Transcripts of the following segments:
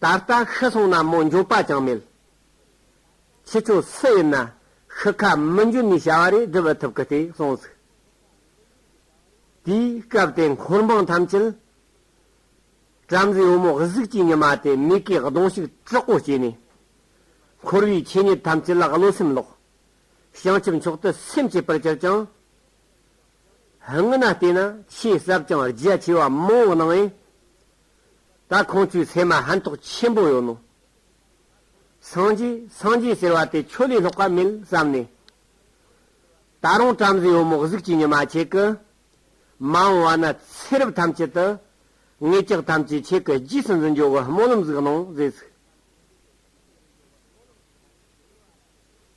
ད་ལྟ་ཤི་སོང་ན་མོ་འབྱོར་པ་ཅང་མེད། ཁྱེད་ཚོ་སུ་ཡིན་ན་ཤི་ཁ་མི་འབྱོར་ནས་བྱ་བ་རེ་སྒྲུབ་ཐུབ་གི་དེ་སོང་ཟིག། དེའི་སྐབས་དེ་འཁོར་འབངས་ཐམས་ཅད་བྲམ་ཟེའི་བུ་མོ་གཟུགས་ཀྱི་ཉི་མ་དེ་མིག་གིས་གདོང་ཤུགས་དྲག་པོ་བྱས་ནས། འཁོར་བའི་ཆོས་ཉིད་ཐམས་ཅད་ལ་བློ་སེམས་ལོག། བྱང་ཆུབ་མཆོག་ཏུ་སེམས་བསྐྱེད་པར་གྱུར་ཅིང། སྔན་ན་བལྟས་ན་ཆོས་ཟབ་ཅིང་རྒྱ་ཆེ་བ་མང་བོ་སྣང་ཡང། ད་ཁོང་ཚོའི་ཚད་མ་ཧན་ཐོག་ཆེན་པོ་ཡོད་ནོ། སངས་རྒྱས་སངས་རྒྱས་ཟེར་བ་དེ་ཁྱོད་ལས་ལྷག་པ་མེད་བསམ་ནས། ད་རུང་བྲམ་ཟེ་ཡོ་མོག་གཟུགས་ཀྱི་ཉི་མ་ཁྱེད་ཀྱི། མ་འོངས་བ་ན་ཚེ་རབས་ཐམས་ཅད་དུ། ངེད་ཅག་ཐམས་ཅད་ཁྱེད་ཀྱི་རྗེས་སུ་འཛིན་འཇོག་གི་སྨོན་ལམ་གཟིགས་གནང་མཛད།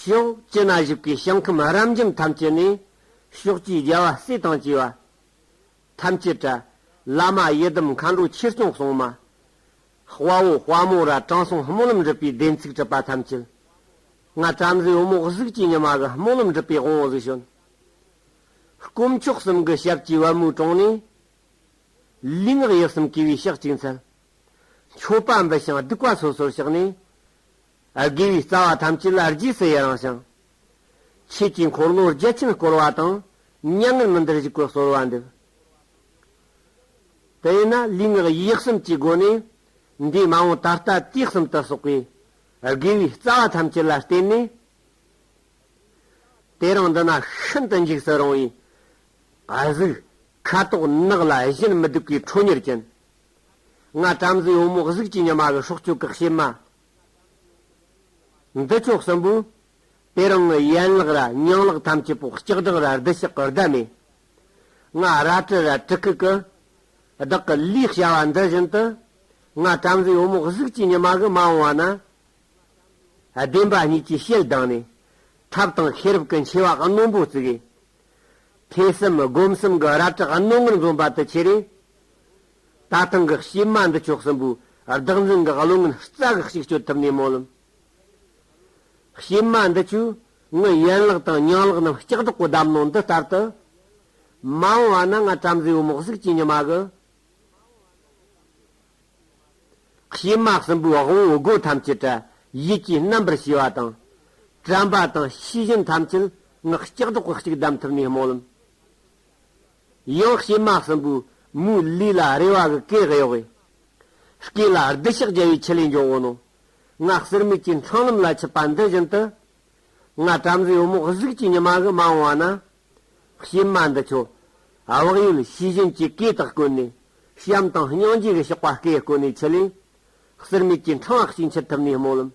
ཕྱོགས་བཅུ་ན་བཞུགས་པའི་ཞིང་ཁམས་རབ་འབྱམས་ཐམས་ཅད་ནས། ཕྱོགས་བཅུའི་རྒྱལ་བ་སྲས་དང་བཅས་པ། ཐམས་ཅད་བཀྲ། བླ་མ་ཡི་དམ་མཁའ་འགྲོ་ཆོས་སྐྱོང་སྲུང་མ། དཔའ་བོ་དཔའ་མོ་ར་དྲང་སྲོང་སྨོན་ལམ་འགྲུབ་པའི་བདེན་ཚིག་གྲུབ་པ་ཐམས་ཅད། སྔགས་བྲམ་ཟེའི་འོ་མོག་གཟུགས་ཀྱི་ཉི་མ་གི་སྨོན་ལམ་འགྲུབ་པའི་དབང་གཟུགས་བྱོན། དཀོན་མཆོག་གསུམ་གྱི་ཞབས་ཀྱི་བ་མོའི་དྲུང་ནས། ལུས་ངག་ཡིད་གསུམ་གུས་པའི་ཕྱག་གཅིག་འཚལ། མཆོད་པ་འབུལ་ཞིང་བདུག་པ་སོ་སོར་བྱེགས་ནས། དགེ་བའི་རྩ་བ་ཐམས་ཅད་ལ་རྗེས་སུ་ཡི་རང་ཞིང། ཆོས་ཀྱི་འཁོར་ལོ་བརྒྱ་བྱིན་བསྐོར་བ་དང་མྱ་ངན་མི་འདར་བཞུགས་པའི་གསོལ་བ་འདེབས། དེ་ཡིན་ན་ལུས་ངག་ཡིད་གསུམ་གྱི་སྒོ་ནས་འདས་མ་འོངས་ད་ལྟ་དུས་གསུམ་དུ་གསོག་པའི་དགེ་བའི་རྩ་བ་ཐམས་ཅད་ལ་བརྟེན་ནས། དེ་རིང་འདི་ན་ཤིན་ཏུ་འཇིགས་སུ་རུང་བའི་གཟུགས། ཁ་དོག་ནག་ལ་གཞན་མི་སྡུག་པའི་ཁྲོ་གཉེར་ཅན། ང་བྲམ་ཟེ་ཡོངས་རྨོག་གཟུགས་ཀྱི་ཉི་མ་བའི་སྲོག་གཅོད་བཀག་བྱེད་མ། འདི་ཕྱོགས་གསུམ་པོའི། དེ་རང་གི་ཡན་ལག་ར་སྙིང་ལག་ཐམས་ཅད་པོ་ལྕགས་སྦྲང་ར་རྡུལ་ཞག་གི་ཟླ་མེད། ང་ར་དྲི་ར་དྲི་ཁུ་ཀུ། བདག་གི་ལུས་བྱ་བ་འདི་བཞིན་དུ། ང་བྲམ་ཟེ་ཡོངས་རྨོག་གཟུགས་ཀྱི་ཉི་མ་གི་མ་འོང་བ་ན། བདེན་པ་གཉིས་ཀྱི་ཞལ་གདངས་ནས། ཐབས་དང་ཤེས་རབ་ཀྱི་མཆེ་བ་རྣོན་པོ་བཙུགས། ཐོས་བསམ་སྒོམ་གསུམ་གྱི་རལ་གྲི་རྣོ་ངར་འཛོམས་པ་དུ་ཁྱེར། ད་ཐེངས་ཀྱི་གཤེད་མ་འདི་ཕྱོགས་གསུམ་པོའི་བདག་འཛིན་གྱི་བློ་ངན་རྩ་གི་གཅིག་གཅོད་ཐུབ་ནས་མོ་ལུམས། གཤེད་མ་འདི་ཆུ་ངུ་ཡན་ལག་དང་ཉང་ལག་རྣམས་ལྕགས་སྒྲོག་གི་བསྡམས་ནོ་འདི་ལྟར་དུ། མ་འོངས་བ་ན་ང་བྲམ་ཟེའི་བུ་མོ་གཟུགས་ཅན་ཉི་མ་གི། གཤེད་མ་གསུམ་པོའི་དབང་བོའི་སྒོ་ཐམས་ཅད་བྲལ་ཡིད་ཀྱིས་རྣམ་པར་ཤེས་པ་དང། དྲན་པ་དང་ཤེས་བཞིན་ཐམས་ཅད་ངག་ལྕགས་སྒྲོག་གི་གཅིག་བསྡམས་ཐུབ་ནས་མོ་ལུམས། ཡང་བྱེ་མ་གསུམ་པོའི་མུའི་ལུས་ལ་རེ་བ་གི་གེགས་གཡོགས་པས། སྐེ་ལ་རྡུལ་ཕྱགས་རྒྱལ་བའི་ཆུ་ལས་འབྱུང་བ་རྣམས། སྔགས་གསེར་མིག་གི་འཕྲང་ལམ་ལ་ཆུད་པ་འདི་བཞིན་དུ། སྔར་བྲམ་ཟེའི་འོ་མོག་གཟུགས་ཀྱི་ཉི་མ་གི་མ་འོངས་བ་ན། བྱེ་མ་འདི་ཁྱོད་དབག་ཡུལ་ཤེས་བཞིན་གྱི་གེ་དག་ཀུན་ནས་བྱམས་དང་སྙིང་རྗེ་གི་གཤོག་པ་སྐེ་བསྐོན་ནས་ཆུ་ལས་གསེར་མིག་གི་འཕྲང་བཤིག་འཆི་ཐུབ་ནས་སྨོན་ལམ།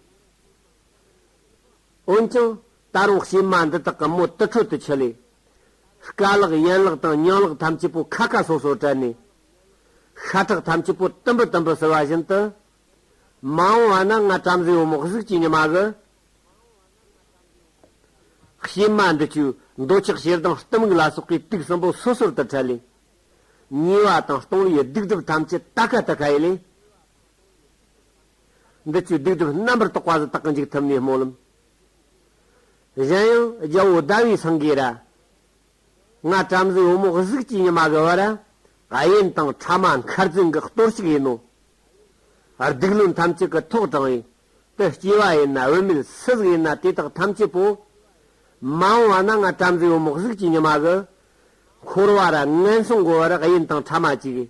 འོན་ཀྱང། ད་རུང་བྱེ་མ་འདི་དག་གི་མོ་དུར་ཁྲོད་དུ་འཁྱིལ། སྐ་ལག་ཡན་ལག་དང་ཉང་ལག་ཐམས་ཅད་པོ་ཁ་ཁ་སོ་སོར་བྲལ་ནས། ཤ་ཁྲག་ཐམས་ཅད་པོ་དུམ་བུ་དུམ་བུ་བསིལ་བ་བཞིན་དུ། མ་འོངས་བ་ན་ང་བྲམ་ཟེའི་བུ་མོ་གཟུགས་ཀྱི་ཉི་མ་གི། བྱེ་མ་འདི་བཅུ་འདོད་ཆགས་ཞེ་སྡང་གཏི་མུག་ལ་སོགས་པའི་དུག་གསུམ་པོ་སོ་སོར་དུ་བྲལ། ཉེ་བ་དང་སྟོང་བའི་སྡིག་སྒྲིབ་ཐམས་ཅད་ཏཱ་ཁ་ཏཱ་ཁ་ཡི་ལས། འདི་ལྟའི་སྡིག་སྒྲིབ་རྣམ་པར་རྟོག་པ་ལ་དག་འཇུག་ཐུབ་ནས་སྨོན་ལམ། གཞན་ཡང་རྒྱལ་པོ་ཟླ་བའི་སེང་གེ་རལྔ་བྲམ་ཟེའི་བུ་མོ་གཟུགས་ཀྱི་ཉི་མ་གི་བར་གཡེམ་དང་ཕྲ་མ་མཁར་རྫིང་གི་གཏོར་བཤིག་ཡིན་ནོ། སྡིག་བློན་ཐམས་ཅད་ཀྱི་ཐོག་དྲངས་ཡུལ་དུ་སྐྱེས་པ་ཡིན་ན་བུད་མེད་སུ་ཟིག་ཡིན་ན་དེ་དག་ཐམས་ཅད་པོ། མ་འོངས་བ་ན་རྔ་བྲམ་ཟེའི་བུ་མོ་གཟུགས་ཀྱི་ཉི་མ་གི་འཁོར་བར་ངན་སོང་གི་བར་གཡེམ་དང་ཕྲ་མ་གཅིག།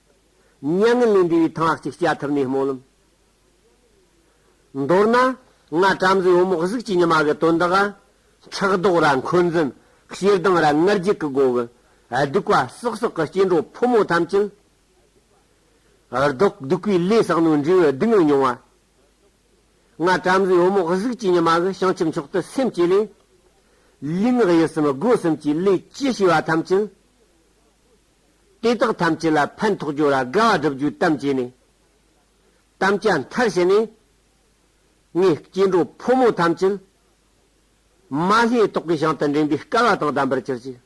མྱ་ངན་ལས་འདས་པའི་ཐང་ཧ་ཅིག་སྐྱ་ཐུབ་ནས་སྨོན་ལམ། མདོར་ན། ང་བྲམ་ཟེ་བུ་མོ་གཟུགས་ཀྱི་ཉི་མ་གི་དོན་དག་ག། ཁྲག་མདོག་ར་འཁོན་འཛིན་ཤེལ་གདང་ར་ལྔར་རྒྱུད་ཀྱི་སྒོ་གི། གདུག་པ་སྲོག་སྲོག་གི་སྐྱེ་འགྲོ་ཕོ་མོ་ཐམས་ཅད། བཟློག། གདུག་པའི་ལས་བསགས་ནོར་འདྲེ་བའི་སྡུག་བསྔལ་མྱོང་བ། ང་བྲམ་ཟེ་བུ་མོ་གཟུགས་ཀྱི་ཉི་མ་གི་བྱང་ཆུབ་མཆོག་ཏུ་སེམས་བསྐྱེད་ལས། ལུས་ངག་ཡིད་གསུམ་སྒོ་གསུམ་གྱི་ལས་ཅི་བྱས་པ་ཐམས་ཅད། དེ་དག་ཐམས་ཅད་ལ་ཕན་ཐོགས་རྒྱུ་ལ་དགའ་བ་བསྒྲུབ་རྒྱུའི་གཏམ་བྱས་ནས། དམ་བཅའ་མཐར་བྱས་ནས། ངས་སྐྱེ་འགྲོ་ཕོ་མོ་ཐམས་ཅད། མ་ལྷའི་ཏོག་གི་ཞིང་དུ་འདྲེན་པའི་སྐལ་བ་དང་ལྡན་པར་གྱུར་ཅིག།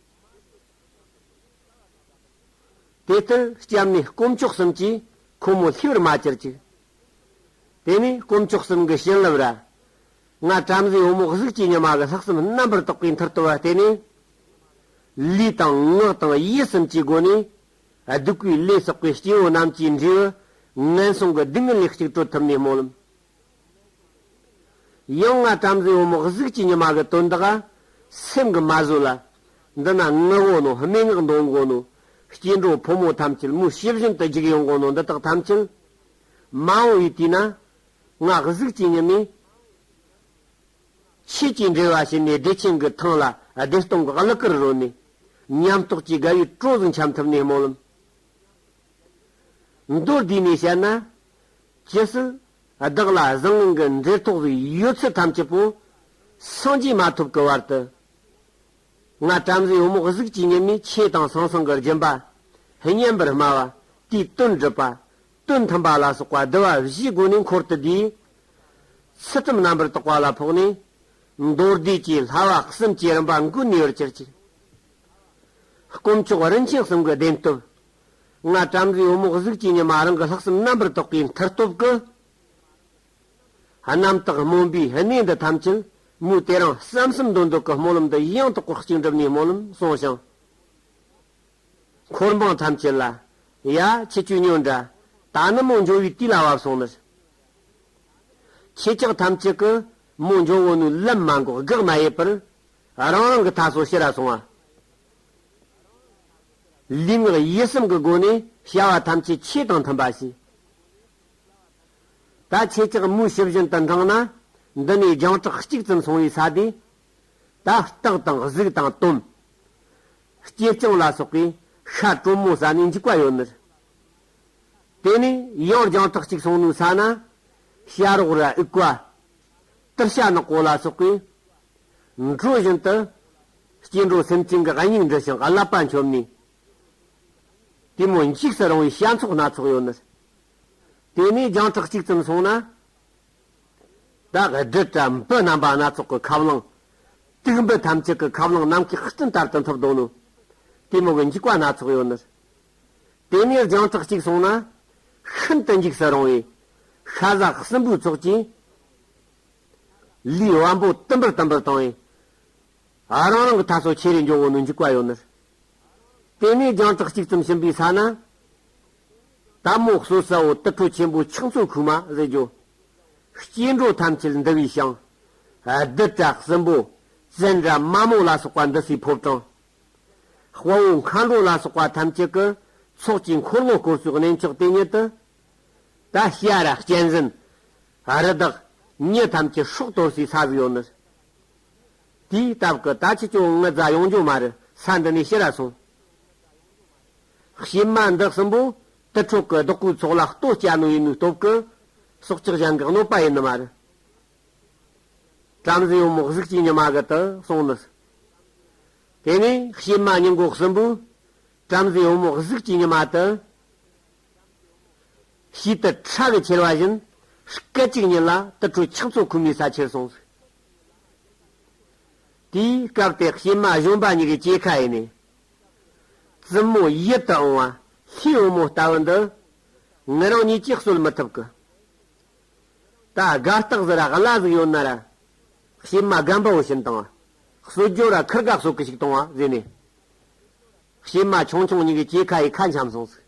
དེ་ལྟར་སྐྱབས་ནས་དཀོན་མཆོག་གསུམ་གྱིས་ཁོ་མོ་ལྷའི་བར་མ་གྱུར་ཅིག། དེ་ནས་དཀོན་མཆོག་གསུམ་གྱི་བྱིན་རླབས་ར་སྔར་བྲམ་ཟེའི་བུ་མོ་གཟུགས་ཀྱི་ཉི་མ་གི་ལྷག་བསམ་རྣམ་པར་དག་པའི་མཐར་བསྟོད་པ་བསྟན་ནས། ལུས་དང་ངག་དང་ཡིད་གསུམ་གྱི་སྒོ་ནས། སྡིག་པའི་ལས་བསགས་པའི་སྐྱེ་བོ་རྣམས་ཀྱི་འབྲས་བུ། ངན་སོང་གི་སྡུག་བསྔལ་ལས་གཅིག་སྤྲོ་ཐུབ་ནས་སྨོན་ལམ། ཡང་སྔར་བྲམ་ཟེའི་བུ་མོ་གཟུགས་ཀྱི་ཉི་མ་གི་དོན་དག། སེམས་ཀྱི་མ་བཟོད་ལ། འདི་ན་ངུ་དགོས་ནོ་སྨྲེ་སྔགས་འདོན་དགོས་ནོ། སྐྱེ་འགྲོ་ཕོ་མོ་ཐམས་ཅད་མུ་བྱི་བཞིན་དུ་འཇིགས་ཡོང་དགོས་ནོ་འདི་དག་ཐམས་ཅད། མ་འོངས་པའི་དུས་ན། སྔགས་གཟུགས་ཀྱི་ཉི་མའི་ཕྱེད་ཀྱིས་འབྲེལ་བ་བྱས་ནས་བདེ་ཆེན་གྱི་ཐང་ལ་བདེ་སྟོང་གི་གླུ་གར་རོལ་ནས། ཉམས་རྟོགས་ཀྱི་དགའ་བའི་སྤྲོ་གཟུགས་འཆམ་ཐུབ་ནས་སྨོན་ལམ། མདོར་བསྡུས་ནས་བཤད་ན། ཇི་སྲིད་བདག་ལ་གཟའ་ངང་གི་མཛེས་ཐོག་གི་ཡོད་ཚད་ཐམས་ཅད་པོ་སངས་རྒྱས་མ་ཐོབ་ཀྱི་བར་དུ། ང་བྲམ་ཟེའི་འོ་མོག་གཟུགས་ཀྱི་ཉི་མའི་ཕྱེད་དང་སང་སང་གི་སྦྱིན་པ། བསྙེན་པར་སྨྲ་བ། དུས་བསྟུན་སྒྲུབ་པ། དོན་མཐུན་པ་ལ་སོགས་པ་བསྡུ་བ་བཞིའི་སྒོ་ནས་འཁོར་དུ་བསྡུས། ཚུལ་ཁྲིམས་རྣམ་པར་དག་པ་ལ་ཕོག་ནས། མདོར་བསྡུས་ཀྱི་ལྷ་བ་གསུམ་གྱི་རིམ་པ་མགུ་ནུས་པར་གྱུར་ཅིག། དཀོན་མཆོག་རིན་ཆེན་གསུམ་གྱི་བདེན་སྟོབས། སྔར་བྲམ་ཟེའི་འོ་མོག་གཟུགས་ཀྱི་ཉི་མ་རང་གི་ལྷག་བསམ་རྣམ་པར་དག་པའི་མཐར་སྟོབས་ཀྱི། རྣམ་དག་སྨོན་པའི་གནས་འདི་ཐམས་ཅད་མུས་ཏེ་རང་བསམ་སུམ་མདོ་འདོད་ཀྱི་སྨོན་ལམ་འདི་ཡང་དག་པར་གཅིག་འགྲུབ་ནས་སྨོན་ལམ་གསུངས་ཤིང། འཁོར་འབངས་ཐམས་ཅད་ལ། ཡ། ཁྱེད་བཅུ་སྨྱོ་འདྲ། ད་ནི་མོ་འབྱུང་བའི་དུས་ལ་བབས་སོང་ནི། ཁྱེད་ཅག་ཐམས་ཅད་ཀྱིས་མོ་འབྱུང་བོ་ནུའི་ལམ་མ་འགོག་དགག་མ་ཡེད་པར། རང་རང་གི་མཐའ་སོ་ཤི་ར་སོང་བ། ལུས་ངག་ཡིད་གསུམ་གྱི་སྒོ་ནས་བྱ་བ་ཐམས་ཅད་ཁྱེད་དང་མཐུན་པ་བྱས། ད་ཁྱེད་ཅག་མོའི་ཕྱི་བཞིན་དུ་འབྲངས་ན། འདི་ནས་རྒྱང་གྲགས་གཅིག་ཙམ་སོང་བའི་ས་དེ། ད་སྟག་དང་གཟིག་དང་སྟོན། སྐྱེས་སྤྱང་ལ་སོགས་པའི་ཤ་དྲོན་མོ་ཟ་ནས་འཇིག་པ་ཡོད་མོད། དེ་ནས་ཡང་རྒྱང་ཐག་ཅིག་སོང་ནུས་ས་ན་བྱ་རོག་ར་ཨི་ཀ། ཏིར་ཤ་ནག་པོ་ལ་སོགས་པའི་འགྲོས་བཞིན་དུ་སྐྱེ་འགྲོ་སེམས་ཅན་གྱི་སྙིང་འབྲི་ཞིང་བསླབ་པ་འཁྱོམ་ནས། དེ་མོ་འཇིགས་སུ་རུང་བའི་བྱ་ཚོགས་སྣ་ཚོགས་ཡོད་མོད། དེ་ནས་རྒྱང་ཐག་ཅིག་ཙམ་སོང་ན། བདག་གི་སྒྲིབ་དང་བུ་རྣམ་པ་སྣ་ཚོགས་ཀྱི་ཁབ་བླངས། དུག་འབུད་ཐམས་ཅད་ཀྱི་ཁབ་བླངས་ནམ་མཁའི་སྤྲིན་ལྟར་དུ་མཐུ་བརྡུང་ནོ། གཏི་མུག་གི་འཇིགས་པ་སྣ་ཚོགས་ཡོད་ནུས། དེ་ནས་རྒྱང་གྲགས་གཅིག་སོང་ན། ཤིན་ཏུ་འཇིགས་སུ་རུང་བའི། ཤ་ཟ་སྲིན་པོའི་ཚོགས་ཀྱིས། ལུས་དབང་པོ་དུམ་བུར་དུམ་བུར་བཏང་བས། རང་རང་གི་ཐབས་སོ་ཆེ་རེ་འཇོག་འོག་ནས་འཇུག་པ་ཡོད་ནུས། དེ་ནས་རྒྱང་གྲགས་གཅིག་ཙམ་ཕྱིན་པའི་ས་ན། ད་མོག་སོ་ས་འོ་དུད་འཕྲོ་ཆེན་པོ་ཕྱག་མཚོ་ཁུག་མ་རེ་རྒྱོ། སྐྱེ་འགྲོ་ཐམས་ཅད་འདུལ་བའི་ཞིང། རྡུལ་བྲག་སྲིན་པོ་བཙན་འདྲ་མ་མོ་ལ་སོགས་པ་འདུ་སའི་ཕོབ་གྲངས། དཔའ་བོ་མཁའ་འགྲོ་ལ་སོགས་པ་ཐམས་ཅད་ཀྱི་ཚོགས་ཀྱི་འཁོར་ལོ་བསྐོར་ཚུལ་གནས་མཆོག་དེ་ཉིད་དུ། ད་ཤ་ར་གཅན་གཟན། རི་དྭགས། མྱི་ཐམས་ཅད་ཧྲོག་དོར་སའི་ས་བཞི་ཡོད་ནི། དེའི་སྟབས་ཀྱི་ད་ཆུ་ཅོ་ལྔུ་རྫ་ཡོངས་འགྱོ་མ་རི་ས་འདི་ནས་ཤི་ར་སོང། གཤེད་མ་འབྲེག་གསུམ་པོ་དུད་ཁྲོ་གི་བདག་པོའི་ཚོགས་ལ་ལྟོ་སྐྱ་ནོ་ཡིན་མོའི་སྟོབས་ཀྱི་སྲོག་ལྕགས་ཞང་གི་གནོད་པ་ཡིན་ནི་མ་རེད། བྲམ་ཟེའི་དམག་གཟིགས་ཀྱིས་ཉི་མ་གི་དུ་སོང་ནི། དེ་ནས་གཤེད་མ་སྙིང་གོག་གསུམ་པོས་བྲམ་ཟེའི་དམག་གཟིགས་ཀྱིས་ཉི་མ་དུ་ཞིག་དུད་ཁྲ་གི་ཁྱེར་བ་བཞིན་སྐད་ཅིག་ཉིད་ལ་དུད་ཁྲོ་ཆགས་ཚོགས་ཁུར་མའི་ས་ཆེར་སོང་ཟིག། དེའི་སྐབས་དེ་གཤེད་མ་གཞོན་པ་གཉིས་ཀྱི་སྐྱེས་ཁ་ཡིན་ནི། བཙུན་མོ་ཡིད་དུ་འོང་བ་ལྷའི་བུ་མོ་ལྟ་བུ་འདི། ངི་རང་ཉིད་ཀྱིས་གསོལ་མི་ཐུབ་ཀི། ད་དགའ་རྟགས་ཟི་ར་གླ་གཟིགས་ཡོད་ན་ར། བྱེ་མ་སྒམ་པོ་བཞིན་དང། གསོལ་རྒྱུ་ར་ཁུར་ག་གསོལ་གི་ཞིག་དང་བ་བཟོས་ནས། བྱེ་མ་ཆུང་ཆུང་གཉིས་ཀྱི་སྐྱེས་ཁ་ཡི་ཁ་འཆམ་སོང་ཟིག།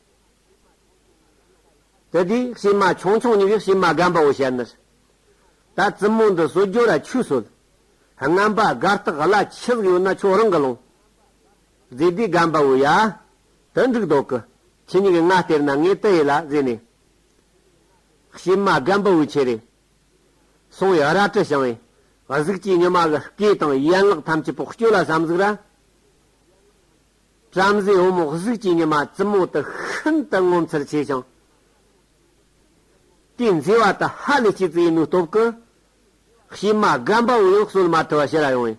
དེ་དུས་བྱེ་མ་ཆུང་ཆུང་གཉིས་ཀྱིས་བྱེ་མ་སྒམ་པོ་བཞི་བྱས་ནི། ད་བཙུན་མོ་འདི་གསོལ་རྒྱུ་ར་ཆུས་གསོལ། རྔམ་པ་དགའ་རྟགས་གླ་ཁྱི་ཟིག་ཡོད་ན་ཁྱོད་རང་གི་ལོངས། ཛེ་སྡེ་སྒམ་པའོ་ཡ། དུ་འགྲིག་དོག་གི། ཁྱི་གཉིས་ཀྱི་སྔ་སྟེར་ན་ངས་དུ་ཡེ་ལ་བཟས་ནས། བྱེ་མ་སྒམ་པའོ་ཆེ་རེ། སོང་ཡ་ར་ཀྲི་བྱང་བས། གཟུགས་ཀྱི་ཉི་མ་གི་སྐེ་དང་ཡན་ལག་ཐམས་ཅད་པོག་སྐྱོ་ལ་བསམ་གཟུགས་ར། བྲམ་ཟེ་འོ་མོ་གཟུགས་ཀྱི་ཉི་མ་བཙུན་མོ་དུ་ཤིན་ཏུ་ངོ་མཚར་ཆེ་ཞིང། དེ་མཛེས་བ་དུ་ཧ་ལས་སྐྱེས་ཙི་ཡི་ནུ་སྟོབས་ཀི། བྱེ་མ་སྒམ་པའོ་ཡང་གསོལ་མ་ཐུ་བ་ཤི་ར་ཡོང་བས།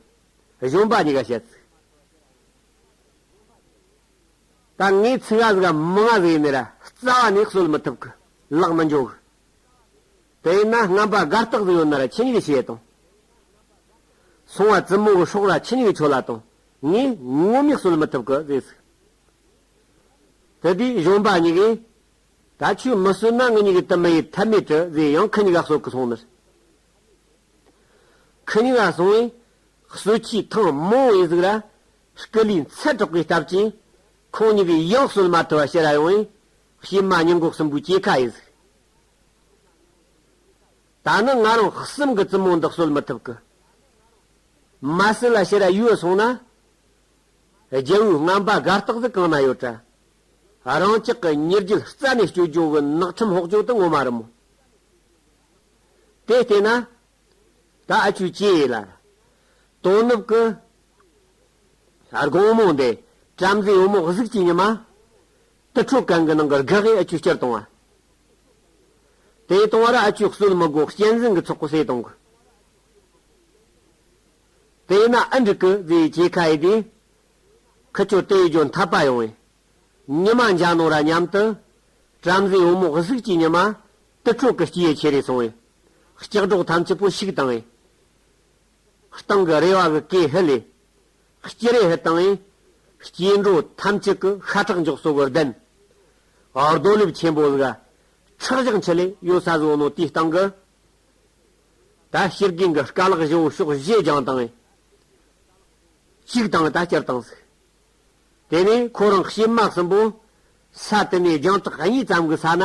གཞོན་པ་གཉིས་ཀ་བཤད། ད་ངས་ཚིག་ང་ཟིག་མི་ང་ཟིག་ཡིན་མེད་རྩ་བ་ནས་གསོལ་མི་ཐུབ་གི་ལག་མི་འཇོག་གི། དེ་ཡིན་ན་རྔམ་པ་དགའ་རྟགས་ཟིག་ཡོད་ན་ར་ཁྱི་གཉིས་ཀ་ཕྱི་ཡས་དང། སོང་བ་བཙུན་མོ་གི་སྲོག་ར་ཁྱི་གཉིས་ཀ་ཆོད་ལ་དང་ངས་ངོ་མས་གསོལ་མི་ཐུབ་གི་ཟེར་ཟིག། དེ་དུས་གཞོན་པ་གཉིས་ཀས། ད་ཁྱོས་མི་གསོད་ན་ངེད་གཉིས་ཀྱི་དུ་མི་ཡི་ཐབས་མེད་གི་ཟེར་ཡང་ཁི་གཉིས་ཀ་གསོད་གི་སོང་མེད། ཁ་ཉིང་ལ་སོང་བས་གསོད་ཆའི་ཐང་མང་བས་གཟུགས་ལ་སྐུ་ལུས་མཚལ་གྲགས་པའི་སྟབས་ཀྱིས་ཁོང་ཉིད་ཀྱི་ཡང་གསོད་མ་ཐུབ་པ་ཤི་ར་ཡོང་བས་བྱེ་མ་ཉིང་གོག་གསུམ་པོའི་སྐྱེས་ཁ་ཡི་གཟུགས། ད་ནི་ང་རང་གསུམ་གྱི་བཙུན་མོ་འདི་གསོད་མི་ཐུབ་ཀི། མ་སྲིན་ལ་ཤི་ར་ཡོད་སོང་ན། རྒྱལ་བོའི་རྔམ་པ་དགའ་རྟགས་གཟུགས་གང་ན་ཡོད་དྲ། རང་ཅག་གི་ཉེར་རྒྱུད་རྩ་ནས་སྐྱོ་སྦྱོང་གི་ནགས་ཁྲིམས་ཧོག་ཅོག་ཏུ་ངོ་མ་རུ་མོ། དེ་སྟེ་ན། ད་ཨ་ཆུ་སྐྱེས་ཡས་ལ། དོ་ནུབ་ཀྱི། སྒོང་མོ་འདི། བྲམ་ཟེའི་བུ་མོ་གཟུགས་ཀྱི་ཉི་མ། དུར་ཁྲོད་གང་གི་ནང་གི་སྒ་ཧའི་ཨ་ཆུ་སྤྱིར་བཏང་བ། དེ་བཏང་བ་ར་ཨ་ཆུ་གསོད་མི་དགོས་གཅན་གཟན་གྱི་ཚོགས་པོ་ཟས་གཏོང་གི། དེ་ན་ཨ་འབྲུག་གི་རྫས་སྐྱེས་ཁ་ཡས་དེ། ཁུ་ཆོ་ཏའི་ལྗོན་འཐབ་པ་ཡོང་བས། ཉི་མ་འཇའ་ནོར་ར་མཉམ་དུ། བྲམ་ཟེའི་བུ་མོ་གཟུགས་ཀྱི་ཉི་མ། དུད་ཁྲོད་ཀྱི་སྐྱི་ཡི་ཆེ་རེ་སོང་བས། ལྕགས་སྒྲོག་ཐམས་ཅད་པོ་ཞིག་བཏང། སྟེང་གི་རེ་བ་གི་སྐེ་ཧི་ལས། སྐྱི་རེ་ཧི་བཏང། སྐྱེ་འགྲོ་ཐམས་ཅད་ཀྱི་ཤ་ཁྲག་མགྱོགས་སོ་གི་གདན། རྡོ་ལེབ་ཆེན་པོ་གཟུགས། ཁྲག་བཞག་མཆུ་ལས་གཡོ་ས་བཟོ་ནོ་དེའི་སྟེང་གི། ད་སྤྱིར་རྒན་གྱི་སྐ་ལག་བཞི་བོ་ཕྱོགས་བཞི་རྒྱང་བཏང། གཅིག་བཏང་ད་སྤྱིར་བཏང་ཟིག། དེ་ནས་ཁོ་རང་སྐྱི་དམག་གསུམ་པོ། ས་དེ་ནས་རྒྱང་ཐག་གཉིས་ཙམ་གྱི་ས་ན།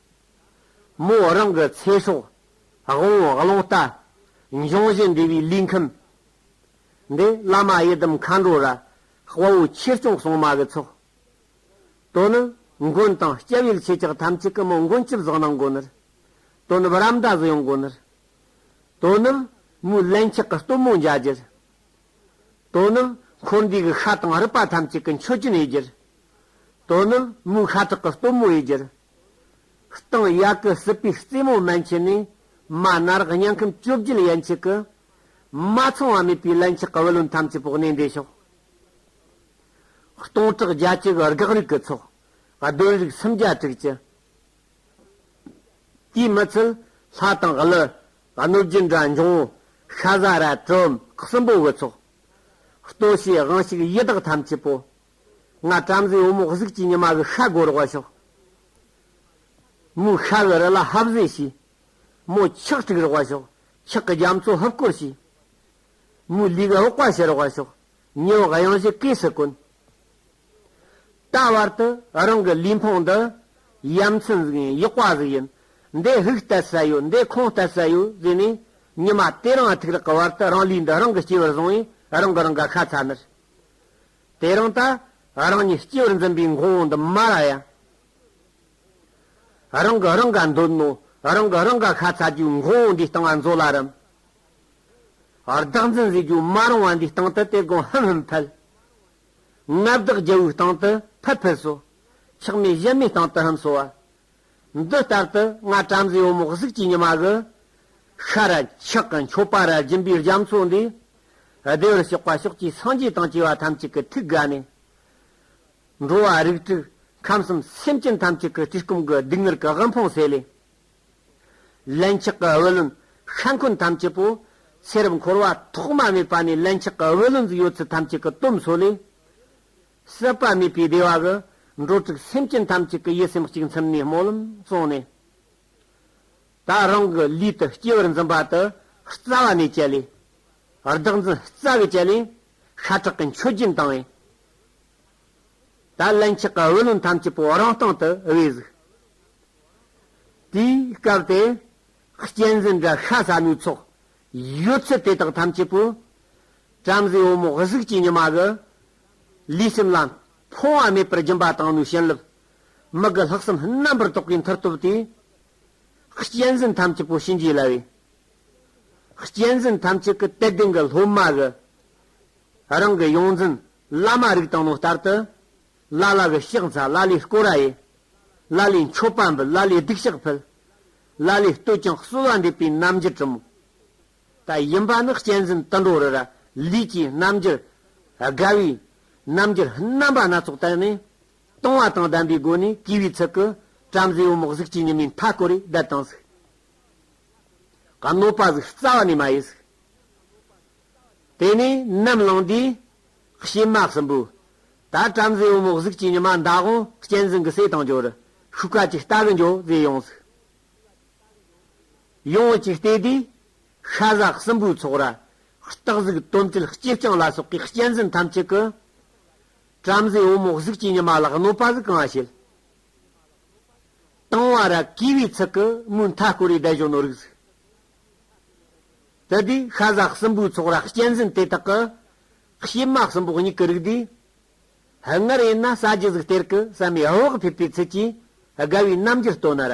མོ་རང་གི་ཚེ་སྲོག་དབང་བླང་ལྟ་འབྱུང་བཞིན་འདས་པའི་ལུས་ཁམས་འདི་བླ་མ་ཡི་དམ་མཁའ་འགྲོ་ར་དཔའ་བོ་ཆེར་སྐྱོང་གསང་མ་གི་ཚོགས་དོན་ནི་མགོན་དང་སྐྱབས་ཡུལ་ཆེ་ཆགས་ཐམས་ཅད་ཀྱི་མོ་མགོན་བཅུ་གཟིགས་སྣང་དགོས་ནུར་དོ་ནུབ་རམ་འདྲ་གཟི་ཡོངས་དགོས་ནུར་དོ་ནུབ་མོའི་བརླན་ཆགས་ཀྱི་གཏུམ་མོ་འཇའ་གྱུར་དོ་ནུབ་འཁོར་འདས་ཀྱི་ཤ་དང་རུས་པ་ཐམས་ཅད་ཀྱི་མཆོད་སྤྱིན་ཡེ་གྱུར་དོ་ནུབ་མོའི་ཤ་ཁྲག་གི་གཏུམ་མོ་ཡེ་གྱུར། སྟངས་ཡག་གི་སྲིད་པའི་རྩེ་མོ་མན་ཆད་ནས་མ་ནར་དབྱངས་ཁམས་བཅོ་བརྒྱད་ཡན་ཆད་ཀྱི། མ་ཚང་བ་མེད་པའི་ལན་ཆགས་བུ་ལོན་ཐམས་ཅད་ཕོག་ནས་འདས་ཤོག། སྟོང་ཕྲག་བརྒྱ་གཅིག་དགག་རིགས་ཀྱི་ཚོགས། གདོན་རིགས་སུམ་བརྒྱ་དྲུག་ཅུ། དུས་མི་ཚུལ་ལྷ་དང་ཀླུ། གནོད་སྦྱིན་དགྲ་འབྱུང་ཤ་ཟ་ར། གྲུམ་གསུམ་པོ་གི་ཚོགས། ལྟོ་ཤས་དབང་ཞིག་ཡི་དྭགས་ཐམས་ཅད་པོ། ང་བྲམ་ཟེའི་བུ་མོ་གཟུགས་ཀྱི་ཉི་མ་གི་ཤ་སྒོ་རོགས་བ་ཤོག། མོའི་ཤ་གི་རི་ལ་ཧབ་བཟེད་བྱས། མོ་ཆག་དཀྲུགས་རོགས་བ་ཤོག། ཆག་གི་རྒྱ་མཚོ་ཧབ་བསྐོར་བྱས། མོའི་ལུས་ཀྱི་འོག་པ་བྱེ་རོགས་བ་ཤོག། ཉི་འོག་གཡང་གཞི་གས་སུ་བསྐོན། ད་བར་དུ་རང་གི་ལུས་འཕངས་འདི། ཡ་མཚན་ཟིག་ཡིན་གཡོག་པ་ཟིག་ཡིན། འདི་ཧུག་བལྟ་ས་ཡོད་འདི་ཁོང་བལྟ་ས་ཡོད་ཟེར་ནས། ཉི་མ་དེ་རིང་ཨ་ཐུག་རག་གི་བར་དུ་རང་ལུས་འདི་རང་གི་སྐྱེ་བར་བཟུང་བས་རང་གི་རང་ག་ཤ་ཚ་མེད། དེ་རིང་ད་རང་ཉིད་སྐྱེ་བར་འཛིན་པའི་འགོང་བོ་འདི་མ་ར་ཡ། རང་གི་རང་ག་འདོད་ནོ། རང་གི་རང་ག་ཁ་ཚ་རྒྱུའི་འགོང་བོ་འདིའི་སྟེང་ང་འཛོ་ལ་རུམ། བདག་འཛིན་བཟོས་རྒྱུ་མ་རུང་བ་འདིའི་སྟེང་དུ་དེ་དགོང་ཧིམ་ཧིམ་ཕལ། མངའ་བདག་རྒྱལ་བོའི་སྟེང་དུ་ཕལ་ཕལ་སོ། ཆགས་མེད་གཞན་མའི་སྟེང་དུ་ཧིམ་སོ་བ། འདི་ལྟར་དུ་ང་བྲམ་ཟེའི་འོ་མོག་གཟུགས་ཀྱི་ཉི་མ་གི། ཤར་ཕྱོགས་ཀྱི་མཆོད་པ་རལ་གྱིན་པའི་རྒྱ་མཚོ་འདི། བདེ་བར་གཤེགས་པ་ཕྱོགས་བཅུའི་སངས་རྒྱས་དང་བཅས་པ་ཐམས་ཅད་ཀྱི་ཐུགས་ཀ་ནས། འགྲོ་བ་རིགས་དྲུག་ཁམས་གསུམ་སེམས་ཅན་ཐམས་ཅད་ཀྱི་བཀྲེས་སྐོམ་གྱི་སྡུག་བསྔལ་གྱི་དབུལ་ཕོངས་སེལ། ལན་ཆགས་ཀྱི་བུ་ལོན་ཤ་འཁོན་ཐམས་ཅད་པོ། ཚེ་རབས་འཁོར་བ་ཐོག་མ་མེད་པ་ནས་ལན་ཆགས་ཀྱི་བུ་ལོན་གྱི་ཡོད་ཚད་ཐམས་ཅད་ཀྱི་དོམ་གསོ་ལས། ཟད་པ་མེད་པའི་བདེ་བ་གི། འགྲོ་དྲུག་སེམས་ཅན་ཐམས་ཅད་ཀྱི་ཡིད་སེམས་གཅིག་མཚམས་ནས་སྨོན་ལམ་གསུངས་ནས། ད་རང་གི་ལུས་དུ་སྐྱེ་བར་འཛིན་པ་དེ་རྩ་བ་ནས་བཅད་ལས། བདག་འཛིན་རྩ་བས་བཅད་ལས། ཤ་ཁྲག་གི་མཆོད་སྦྱིན་བཏང་བས། ད་ལན་ཆགས་པའི་བུ་ལོན་ཐམས་ཅད་པོ་རང་སྟེང་དུ་དབུལ་གཟིགས། དེའི་སྐབས་དེ། གཅན་གཟན་དགྲ་ཤ་ཟ་མའི་ཚོགས། ཡོད་ཚད་དེ་དག་ཐམས་ཅད་པོས། བྲམ་ཟེའི་བུ་མོ་གཟུགས་ཀྱི་ཉི་མ་གི། ལུས་སེམས་ལ་འཕོ་བ་མེད་པར་སྦྱིན་པ་དང་ནི་བྱིན་རླབས། མི་དགེ་ལྷག་བསམ་རྣམ་པར་རྟོག་པའི་མཐར་ཐུག་སྟེ། གཅེས་འཛིན་ཐམས་ཅད་པོ་ཞིང་རྒྱས་སླ་བའི། གཅེས་འཛིན་ཐམས་ཅད་ཀྱི་དད་ལྡན་གྱི་སློབ་མ་གི། རང་གི་ཡོངས་འཛིན་བླ་མ་རིགས་དང་ནི་ལྟར་དུ། བླ་ལ་གི་གཤེགས་མཛའ་བླ་ལའི་སྐོར་ར་ཡི། བླ་ལའི་མཆོད་པ་འབུལ་བླ་ལའི་སྡིག་བཤགས་ཕུལ། བླ་ལའི་བསྟོད་ཅིང་གསོལ་བ་འདེབས་པའི་རྣམ་འགྱུར་གྲུབ། ད་ཡིན་པ་ནི་གཅན་གཟན་དུད་འགྲོ་རི་ར་ལུས་ཀྱི་རྣམ་འགྱུར། རྒ་བའི་རྣམ་འགྱུར་རྣམ་པ་སྣ་ཚོགས་བསྟན་ནས། སྟོང་བ་དང་ལྡན་པའི་སྒོ་ནས་བསྐུལ་བའི་ཚུལ་གྱིས་བྲམ་ཟེའི་འོ་མོག་གཟུགས་ཀྱི་ཉི་མའི་མཐའ་བསྐོར་བའི་གདལ་དང་གཟུགས། གནོད་པ་གཟུགས་རྩ་བ་ནས་མ་ཡི་གཟུགས། དེ་ནས་ནམ་ལངས་དུས་གཤེད་དམག་གསུམ་པོས། ད་བྲམ་ཟེའི་འོ་མོག་གཟུགས་ཀྱི་ཉི་མ་མདའ་དབང་གཅན་གཟན་གྱི་སྲས་དང་འབྱོར། ཤུགས་ཀ་གཅིག་རྟ་གི་འཇོ་ཟེར་ཡོངས་སུ། ཡོངས་ཀྱི་ལྟེ་བདེ། ཤ་ཟ་སྲིན་པོའི་ཚོགས་ར། སྟག་གཟིག་དོམ་དྲེད་སྐྱེས་རྐྱང་ལ་སོགས་ཀྱི་གཅན་གཟན་ཐམས་ཅད་ཀྱི། བྲམ་ཟེ་འོ་མོག་གཟུགས་ཀྱི་ཉི་མ་ལ་གནོད་པ་གཟུགས་གང་བ་བྱེད། དང་བ་ར་གས་བའི་ཚིག་གི་མུ་མཐའ་བསྐོར་བའི་བདལ་གཞོན་ནུ་རིགས་གཟུགས། ལྟེ་བདེ། ཤ་ཟ་སྲིན་པོའི་ཚོགས་ར་གཅན་གཟན་དེ་དག་གི། གཤེད་མ་སྲིན་པོ་སྙིགས་ཀྱི་རིགས་དེ། སྔར་ཡིན་ན་ས་བརྒྱུད་གཟུགས་གཏེར་གྱི་ས་མའི་བྷི་བྷག་ཕེབས་པའི་ཚུལ་གྱིས་དགའ་བའི་རྣམ་འགྱུར་སྟོན་ན་ར།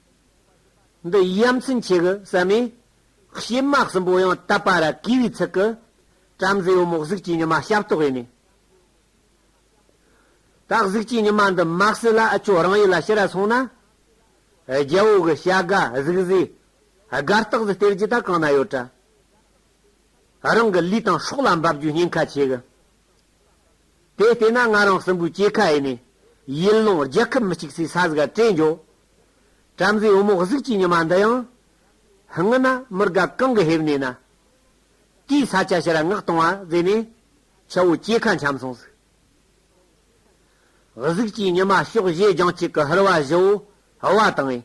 འདི་ཡ་མཚན་ཆེ་གི་ཟ་མས། གཤེད་མ་གསུམ་པོ་ཡང་བཏབ་པ་ར་གི་བའི་ཚིག་གི། བྲམ་ཟེའི་བུ་མོ་གཟུགས་ཀྱི་ཉི་མ་ཞབས་ཏོག་ཡིན། ད་གཟུགས་ཀྱི་ཉི་མ་འདི་མ་བསྲེ་ལ་ཨ་ཅོ་རང་ཡིད་ལ་ཤི་ར་སོང་ན། རྒྱལ་བོ་གི་བྱ་དགའ་གཟུགས་བཟོས་དགའ་རྟགས་སུ་སྟེར་རྒྱུ་ད་གང་ན་ཡོད་དྲ། རང་གི་ལུས་དང་སྲོག་ལ་འབབ་རྒྱུའི་ཉེན་ཁ་ཆེ་གི། དེ་ལྟས་ན་ང་རང་སྲིན་པོའི་སྐྱེས་ཁ་ཨེ་ནི། ཡུལ་ལུང་རྒྱལ་ཁབ་མི་གཅིག་སའི་ས་གཟིགས་སྤྲེལ་འཇོ། བྲམ་ཟེའི་བུ་མོ་གཟུགས་ཀྱི་ཉི་མ་འདི་ཡང། ཧང་ན་མི་དགའ་གང་གི་ཧེབ་ནས་ན། དེའི་ས་སྐྱ་ཕྱིར་མངགས་གཏོང་བ་མཛད་ནས། ཁྱེའུ་སྐྱེས་ཁ་འཁྱམས་སོང་ཟིག། གཟུགས་ཀྱི་ཉི་མ་ཕྱོགས་བཞི་རྒྱང་གཅིག་གི་ཧུར་བ་བཞི་བོ་ཧུར་བ་དང་ཨེ།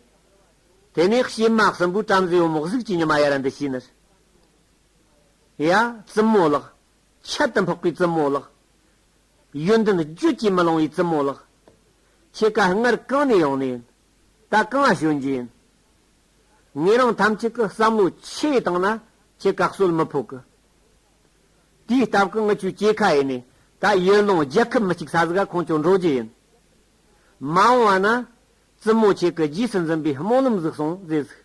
དེ་ནས་གཤེད་དམག་སྲིན་པོས་བྲམ་ཟེའི་བུ་མོ་གཟུགས་ཀྱི་ཉི་མ་ཡར་འདི་ཤི་ནི། ཡ། བཙུན་མོ་ལགས། ཁྱད་དུ་འཕགས་པའི་རྩུབ་མོ་ལགས། ཡོན་ཏན་རྒྱུད་ཀྱིས་མི་ལང་བའི་རྩུབ་མོ་ལགས། ཁྱེད་ཀ་སྔར་གང་ནས་ཡོང་ནས། ད་གང་ལ་བྱོན་རྒྱུ་ཡིན། ངེད་རང་ཐམས་ཅད་ཀྱི་བསམ་བློ་ཆེ་བའི་སྟེང་ན་ཁྱེད་ག་གསོལ་མི་ཕོག་གི། དེའི་སྟབས་ཀྱི་ངི་ཆོས་སྐྱེས་ཁ་ཡེ་ནས་ད་ཡོན་ལོང་རྒྱལ་ཁབ་མི་གཅིག་ས་གཟིག་ག་ཁོང་ཁྱོད་འགྲོ་རྒྱུ་ཡིན། མ་འོང་བ་ན། རྩུབ་མོ་ཁྱེད་ཀྱི་རྗེས་སུ་འཛིན་པའི་སྨོན་ལམ་གཟིགས་སོང་རྫེས་གཟིགས།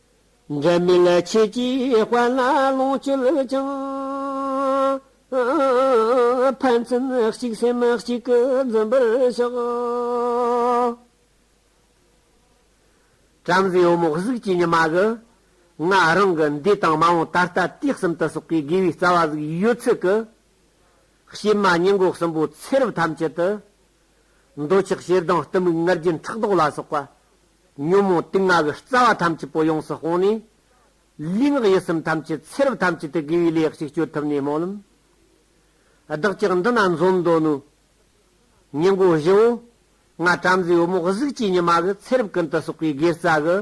འགལ་མེད་ཆོས་ཀྱི་དཔལ་ལ་ལོངས་སྤྱོད་ཅིང། ཕན་ཚུན་གཅིག་སེམས་གཅིག་གིས་འཛིན་པར་ཤོག། བྲམ་ཟེའི་བུ་མོ་གཟུགས་ཀྱི་ཉི་མ་གི། ང་རང་གི་འདི་དང་མ་འོངས་ད་ལྟ་དུས་གསུམ་དུ་སོག་པའི་དགེ་བའི་རྩ་བ་གཟུགས་ཡོད་ཚད་ཀྱི། གཤེད་མ་སྙིང་གོག་གསུམ་པོ་ཚེ་རབས་ཐམས་ཅད་དུ། འདོད་ཆགས་ཞེ་སྡང་གཏི་མུག་ངར་རྒྱུན་ཕྲག་དོག་ལ་སོགས་པ། ཉོན་མོངས་སྟེ་ལྔ་གི་རྩ་བ་ཐམས་ཅད་པོ་ཡོངས་སུ་སྤོང་ནས། ལུས་ངག་ཡིད་གསུམ་ཐམས་ཅད་ཚེ་རབས་ཐམས་ཅད་དུ་དགེ་བའི་ལས་གཅིག་སྤྱོད་ཐུབ་ནས་སྨོན་ལམ། བདག་ཅག་འདི་ན་འཛོམས་འདོད་ནུས། ཉིན་མགོ་བཞི་བོ། ལྔ་བྲམ་ཟེའི་བུ་མོ་གཟུགས་བཅས་ཉི་མ་གི་ཚེ་རབས་ཀུན་ཏུ་སོགས་པའི་དགེ་རྩ་གི།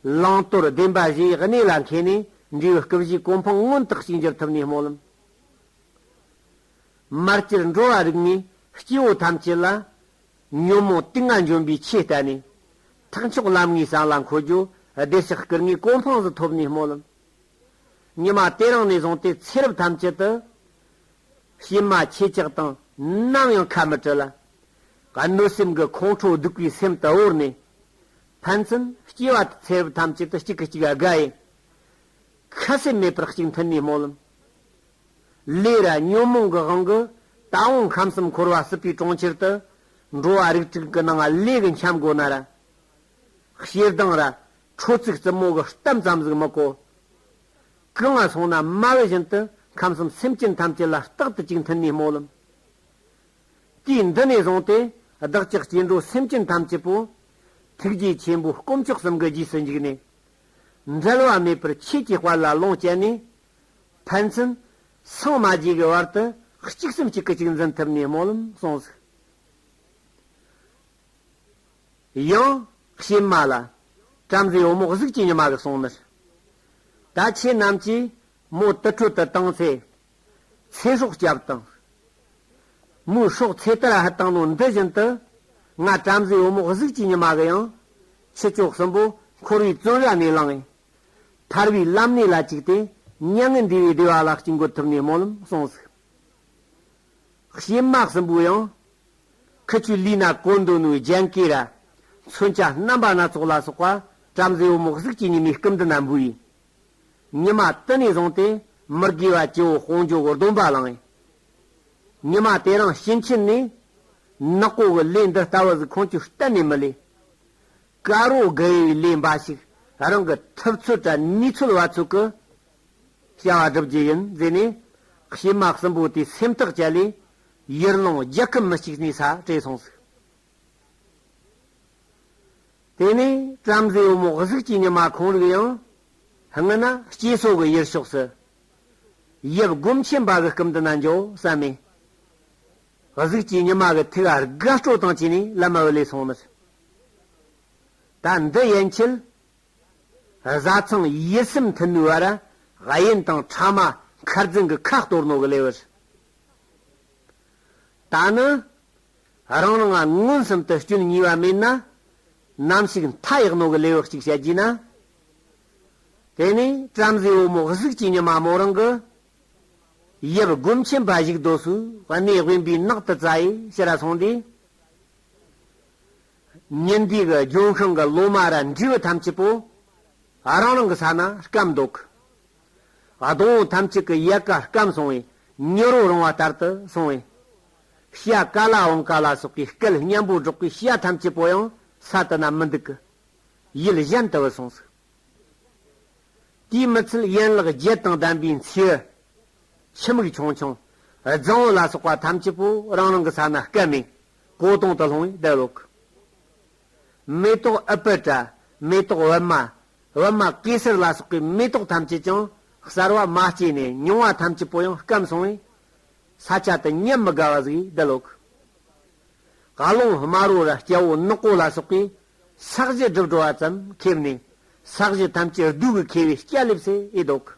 བླང་དོར་བདེན་པ་བཞི་ཡི་གནས་ལ་མཁས་ནས་འབྲས་བུ་སྐུ་བཞིའི་གོ་འཕང་མངོན་དུ་གཅིག་འགྱུར་ཐུབ་ནས་སྨོན་ལམ། མར་གྱུར་འགྲོ་བ་རིགས་ལྔའི་སྐྱེ་བོ་ཐམས་ཅད་ལ། ཉོན་མོངས་ཏིང་ངེ་འཇོམས་པའི་ཆོས་བསྟན་ནས། ཐེག་མཆོག་ལམ་ལྔའི་གསང་ལ་འཁོད་རྒྱུ། བདེ་གཤེགས་སྐུ་ལྔའི་གོ་འཕང་གཟི་ཐོབ་ནས་སྨོད། ཉི་མ་དེ་རིང་ནས་བཟུང་སྟེ་ཚེ་རབས་ཐམས་ཅད་དུ། གཤེད་མ་ཁྱེད་ཅག་དང་ནམ་ཡང་ཁ་མི་བྲལ། གནོད་སེམས་ཀྱི་ཁོང་ཁྲོ་གདུག་པའི་སེམས་དུ་དབོར་ནས། ཕན་ཚུན་སྐྱེ་བ་དང་ཚེ་རབས་ཐམས་ཅད་དུ་གཅིག་གིས་གཅིག་དགའ་ཡི། ཁ་ཟས་མེད་པར་གཅིག་མཐུན་ནས་སྨོད། ལས་ར་ཉོན་མོངས་ཀྱི་དབང་གིས་ད་འོང་ཁམས་གསུམ་འཁོར་བ་སྲིད་པའི་གྲོང་ཁྱེར་དུ། འགྲོ་བ་རིགས་དྲུག་གི་སྣང་ལས་ཀྱི་འཁྱམས་སྒོ་ན་ར། ཞེ་སྡང་ར། ཁྲོ་ཚིག་རྩུབ་མོ་གི་གཏམ་ཙམ་ཟིག་མི་གོ། གི་ང་སོང་ན་རྨ་བེ་བཞིན་དུ་ཁམས་གསུམ་སེམས་ཅན་ཐམས་ཅད་ལ་རྟག་ཏུ་ཅིག་མཐུན་ནས་སྨོད་ལམ། དུས་འདི་ནས་བཟུང་སྟེ་བདག་ཅག་སྐྱེ་འགྲོ་སེམས་ཅན་ཐམས་ཅད་པོ། ཐུགས་རྗེ་ཆེན་པོའི་སྐུ་མཆོག་གསུམ་གྱི་རྗེས་སུ་འཇུག་ནས། འབྲལ་བ་མེད་པར་ཆོས་ཀྱི་དཔལ་ལ་ལོངས་སྤྱད་ནས། ཕན་ཚུན། ཚང་མ་བརྗེ་གི་བར་དུ། གཅིག་སེམས་གཅིག་གི་གཅིག་འཛིན་ཐུབ་ནས་སྨོན་ལམ་གསུང་གཟིགས། ཡང། གཤེད་མ་ལ། བྲམ་ཟེའི་བུ་མོ་གཟུགས་ཅི་ཉི་མ་གི་གསུང་མི། ད་ཁྱེད་རྣམས་ཀྱིས། མོ་དུར་ཁྲོད་དུ་བཏང་ཚེ། ཚེ་སྲོག་སྐྱབས་དང། མོའི་སྲོག་ཚེ་དར་ཧ་བཏང་ནོ་འདི་བཞིན་དུ། ང་བྲམ་ཟེའི་བུ་མོ་གཟུགས་ཅི་ཉི་མ་གི་ཡང། ཁྱི་ཅོག་གསུམ་པོ་འཁོར་བའི་བཙོན་ར་ནས་བླངས། ཐར་བའི་བླ་མནས་ལ་བཅུག་སྟེ། མྱ་ངན་འདས་པའི་བདེ་བ་ལ་དཀྱིལ་འཁོར་ཐུབ་ནས་སྨོན་ལམ་གསུངས་སོ། བྱེ་དམག་གསུམ་པོ་ཡང། ཁུ་ཆུ་ལུས་ནག་ཀོ་མདོ་ནུ་རྒྱན་སྐེ་ར། མཚོན་ཆ་རྣམ་པ་སྣ་ཚོགས་ལ་སོགས་པ། བྲམ་ཟེ་བུ་མོ་གཟུགས་ཅན་ཉི་མའི་སྐུ་འདི་ན་འབུལ། ཉི་མ་དུ་ནས་བཟུང་སྟེ་མི་དགེ་བ་སྤྱི་བོ་སྤོང་ཇོ་བོ་སྡོམ་པ་བླངས། ཉི་མ་དེ་རང་བྱིན་ཆེན་ནས། ནག་པོ་བུ་ལས་འདི་ལྟ་བུ་གཟུགས་ཁང་ཆུ་གཏན་ནས་མི་ལས། ཀ་རོ་དགེ་བའི་ལས་འབའ་ཞིག་རང་གི་ཐུབ་ཚོད་དྲ་ནུས་ཚོད་བ་ཚོད་ཀྱི་བྱ་བ་སྒྲུབ་རྒྱུ་ཡིན་ཟེར་ནས་བྱེ་མ་གསུམ་པོ་དེ་སེམས་ཐག་བཅད་ལས་ཡར་ལངས་རྒྱག་གི་མི་གཅིག་ནས་ས་བྲེལ་སོང་ཟིག། དེ་ནས་བྲམ་ཟེ་འོ་མོག་གཟུགས་ཀྱི་ཉི་མ་ཁོང་རིག་ཡང་སྔི་ན་སྐྱེས་སོགས་ཀྱི་ཡུལ་ཕྱོགས་སུ་ཡབ་སྒོམ་ཆེན་པ་གི་སྐུམ་དུ་ན་འཇོག་བསམ་མེད་གཟུགས་ཀྱི་ཉི་མ་གི་ཐིག་ཨ་རྒ་སྤྲོ་དང་བཅས་ནས་བླ་མ་འོད་ལས་སོང་མོད། ད་འདི་ཡན་ཆད་བཟའ་ཚང་ཡིད་སེམས་མཐུན་མོའི་བར་ཨ་ཡན་དང་ཕྲ་མ་མཁར་རྫུན་གྱི་ཁ་གཏོར་ནོ་གི་ལེ་བར། ད་ནི་རང་རང་ཨ་མངོན་སུམ་དུ་སྐྱོན་གཉིས་པ་མེད་ན་ནམ་ཞིག་མཐའ་ཡག་ནོ་གི་ལེ་བ་གཅིག་བྱ་རྒྱུ་ན། དེ་ནས་བྲམ་ཟེའི་བུ་མོ་གཟུགས་ཀྱི་ཉི་མ་མོ་རང་གི་ཡབ་སྒོམ་ཆེན་འབའ་ཞིག་རྡོ་སུལ་བ་སྣའི་དབེན་པའི་ནགས་དུ་རྩྭ་ཡི་ཕྱི་ར་སོང་སྟེ། ཉིན་དེའི་གི་ལྗོན་ཤིང་གི་ལོ་མ་ར་འབྲས་བུ་ཐམས་ཅད་པོ་རང་རང་གི་ས་ན་སྐམ་འདུག་གི། སྡོང་བོ་ཐམས་ཅད་ཀྱི་ཡལ་ག་སྐམ་སོང་བས་མྱུར་བར་རུང་བ་ལྟར་དུ་སོང་བས། ཤ་ཀ་ལ་བང་ཀ་ལ་སོགས་ཀྱི་སྐལ་མཉམ་པོ་སྒྲོག་པའི་ཤ་ཐམས་ཅད་པོ་ཡང་ས་དུ་ན་མི་འདུག་གི། ཡུལ་གཞན་དུ་བུད་སོང་ཟིག། དེའི་མི་ཚུལ་ཡན་ལག་བརྒྱད་དང་ལྡན་པའི་མཚེའུ། ཕྱི་མིག་ཆུང་ཆུང། རྫིང་བུ་ལ་སོགས་པ་ཐམས་ཅད་པོ་རང་རང་གི་ས་ན་སྐད་མིག། གོ་དོང་དུ་ལྷུང་བའི་ལྡེ་ལོ་ཁུ། མེ་ཏོག་ཨི་པི་ཏྲ། མེ་ཏོག་ཝེར་མ། ཝེར་མ་གེ་སར་ལ་སོགས་པའི་མེ་ཏོག་ཐམས་ཅད་ཀྱང་གསར་བ་མ་སྐྱེས་ནས་མྱོང་བ་ཐམས་ཅད་པོ་ཡང་སྐམ་སོང་བས། ས་ཆ་དུ་ཉམས་མི་དགའ་བ་གཟུགས་ཡི་ལྡེ་ལོ་ཁུ། བཀའ་ལུང་དམར་བོ་ར་སྐྱ་བོ་ནག་པོ་ལ་སོགས་པའི། ས་གཞི་སྒྲིབ་སྒྲོལ་བ་ཙམ་ཁེབས་ནས། ས་གཞི་ཐམས་ཅད་བདུད་ཀྱི་ཁེལ་བའི་སྐྱ་ལེབ་སའི་རྡོག།